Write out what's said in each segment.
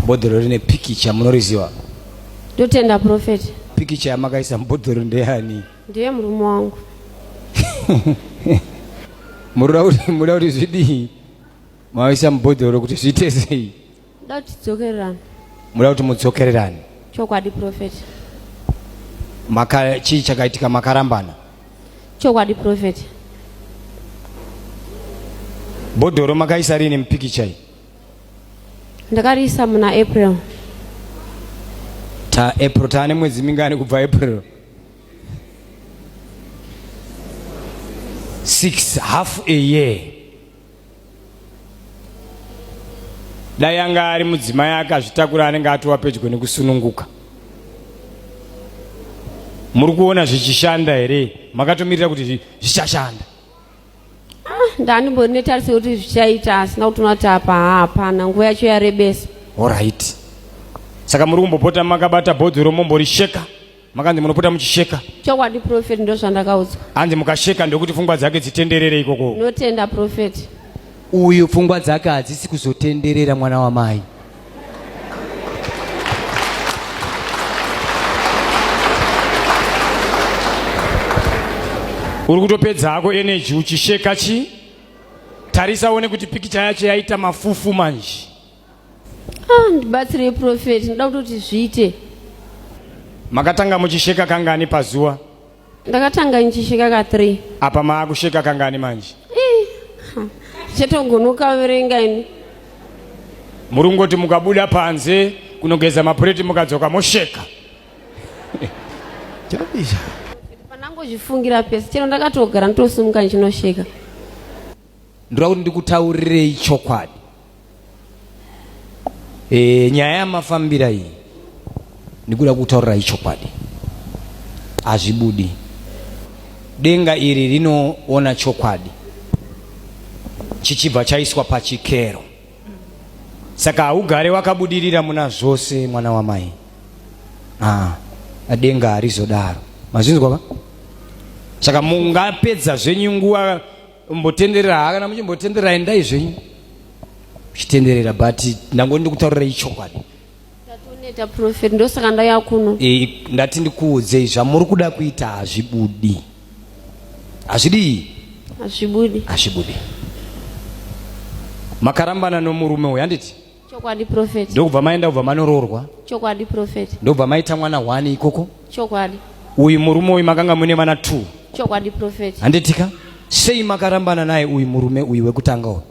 bhodhoro rine pikicha munoriziva ndotenda profeti pikicha yamakaisa mubhodhoro ndeyani ndiye murume wangu muroda kuti zvidii maisa mubhodhoro kuti zviite sei Ndoda kuti tidzokererane. Muda kuti mudzokererane. Chokwadi prophet. Maka chii chakaitika makarambana? Chokwadi prophet. Bhodhoro makaisa rini mupikicha iyi? Ndakariisa muna April. Ta April taane mwedzi mingani kubva April? 6 half a year. dai anga ari mudzimai akazvitakura anenge atova pedyo nekusununguka muri kuona zvichishanda here makatomirira kuti zvichashanda ah, ndandimbori netariso kuti zvichaita asina kuti unati apa hapana nguva yacho yarebesa orit saka muri kumbopota makabata bhodhi romombori sheka makanzi munopota muchisheka chokwadi profeti ndozvandakaudzwa hanzi mukasheka ndokuti pfungwa dzake dzitenderere ikoko notenda profeti uyu pfungwa dzake hadzisi kuzotenderera mwana wamai uri kutopedza hako eneji uchisheka chi tarisa uone kuti pikicha yacho yaita mafufu manje Ah, ndibatsirei profeti ndoda kutoti zviite makatanga muchisheka kangani pazuva ndakatanga ndichisheka ka three apa maakusheka kangani manje Ih, ha, chatogonokaverenga ini muri kungoti mukabuda panze kunogeza mapureti mukadzoka mosheka chabisha pandangozvifungira pese chero ndakatogara nditosimuka ndichinosheka ndoda kuti ndikutaurirei chokwadi e, nyaya yamafambira iyi ndikuda kutaurirai chokwadi hazvibudi denga iri rinoona chokwadi chichibva chaiswa pachikero saka haugare wakabudirira muna zvose mwana wamai ah, denga harizodaro mazvinzwa va saka mungapedza zvenyu nguva mbotenderera haa kana muchimbotenderera endai zvenyu muchitenderera but ndango ndikutaurira ichokwadi tatoneta profet ndosaka ndaya kuno e, ndati ndikuudzei zvamuri kuda kuita hazvibudi hazvidii hazvibudi hazvibudi makarambana nomurume uyu handiti chokwadi profeti ndokubva maenda kubva manoroorwa chokwadi profeti ndokubva maita mwana one ikoko chokwadi uyu murume uyu makanga mune vana two chokwadi profeti handitika sei makarambana naye uyu murume uyu wekutanga uyu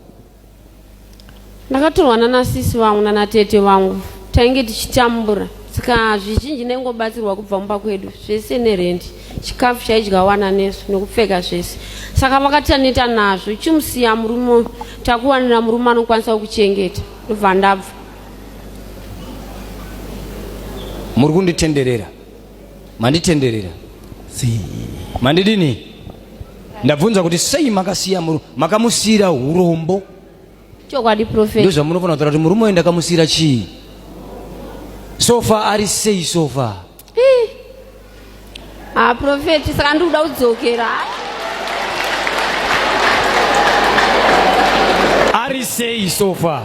ndakatorwana nasisi vangu nanatete vangu tainge tichitambura saka zvizhinji ndaingobatsirwa kubva mumba kwedu zvese nerendi chikafu chaidya wana nesu nekupfeka zvese saka vakataneta nazvo chimusiya murume takuwanira murume anokwanisa kukuchengeta ndobva ndabva muri kunditenderera manditenderera mandidini ndabvunza kuti sei makasiya murume makamusiyira hurombo chokwadi profet ndozvamunofanira kutaura kuti murume uyu ndakamusiyira chii sofa ari sei sofa Ah, prophet, saka ndikuda kudzokera. Ari sei so far?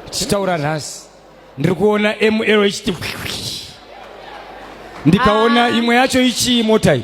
Tichitaura nhasi. Ndiri kuona ML ichiti ndikaona ah. imwe yacho ichii mota iyi.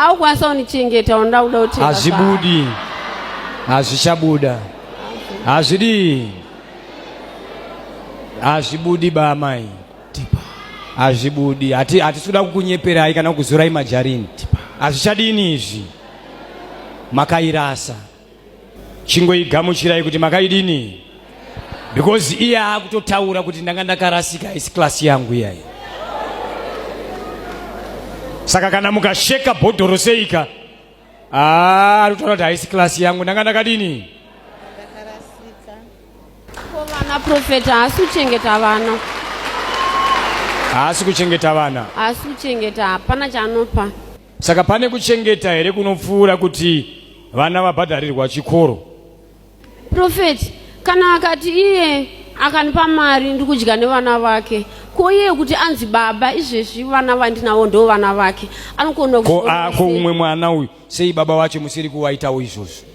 aukwanisa unichengeta unoda kuda kuti hazvibudi hazvichabuda hazvidi hazvibudi bamai hazvibudi hatisi kuda kukunyeperai kana kukuzorai majarini hazvichadini izvi makairasa chingoigamuchirai kuti makaidini because iye akutotaura kuti ndanga ndakarasika haisi klasi yangu iyayi saka kana mukasheka bhodhoro seika ah, arikutaura kuti haisi klasi yangu ndanga ndakadini vana profeta haasi kuchengeta vana haasi kuchengeta vana haasi kuchengeta hapana chanopa Saka pane kuchengeta here kunopfuura kuti vana vabhadharirwa chikoro? Prophet, kana akati iye akanipa mari ndikudya nevana vake ko iye kuti anzi baba izvezvi vana vandinawo ndo vana vake anokona ko ako umwe mwana uyu sei baba wacho musiri kuwaitawo izvozvo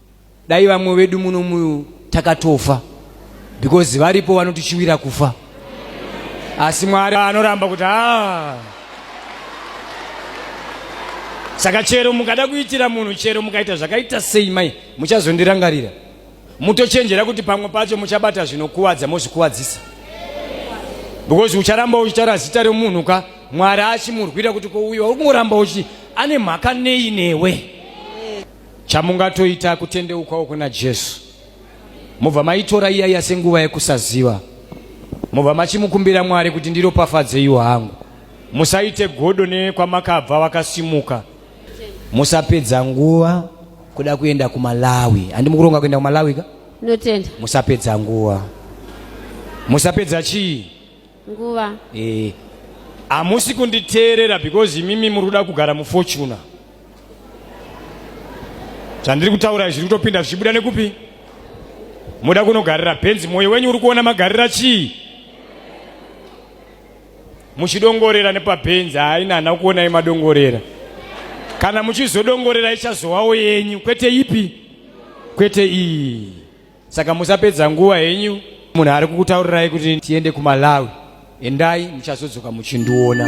Dai vamwe vedu muno mu takatofa because varipo vanotichiwira kufa asi Mwari anoramba kuti haa saka chero mukada kuitira munhu chero mukaita zvakaita sei mai muchazondirangarira mutochenjera kuti pamwe pacho muchabata zvinokuvadza mozvikuvadzisa because ucharamba uchitaura zita remunhu ka mwari achimurwira kuti kouyiwa uri kungoramba uchi ane mhaka nei newe Chamungatoita kutendeukawo kuna Jesu, mobva maitora iyaiya senguva yekusaziva, mobva machimukumbira Mwari kuti ndiropafadzeiwo hangu. Musaite godo nekwamakabva vakasimuka. Musapedza nguva kuda kuenda kumalawi handi mukuronga kuenda kumalawi ka notenda musapedza nguva musapedza chii nguva eh hamusi kunditeerera because imimi muri kuda kugara mufortuna zvandiri kutaura zviri kutopinda zvichibuda nekupi moda kunogarira benzi mwoyo wenyu uri kuona magarira chii muchidongorera nepabenzi haina hana kuonai madongorera kana muchizodongorera ichazowawo yenyu kwete ipi kwete iyi Saka musapedza nguva henyu munhu ari kukutaurirai kuti tiende kuMalawi. Endai muchazodzoka muchindiona.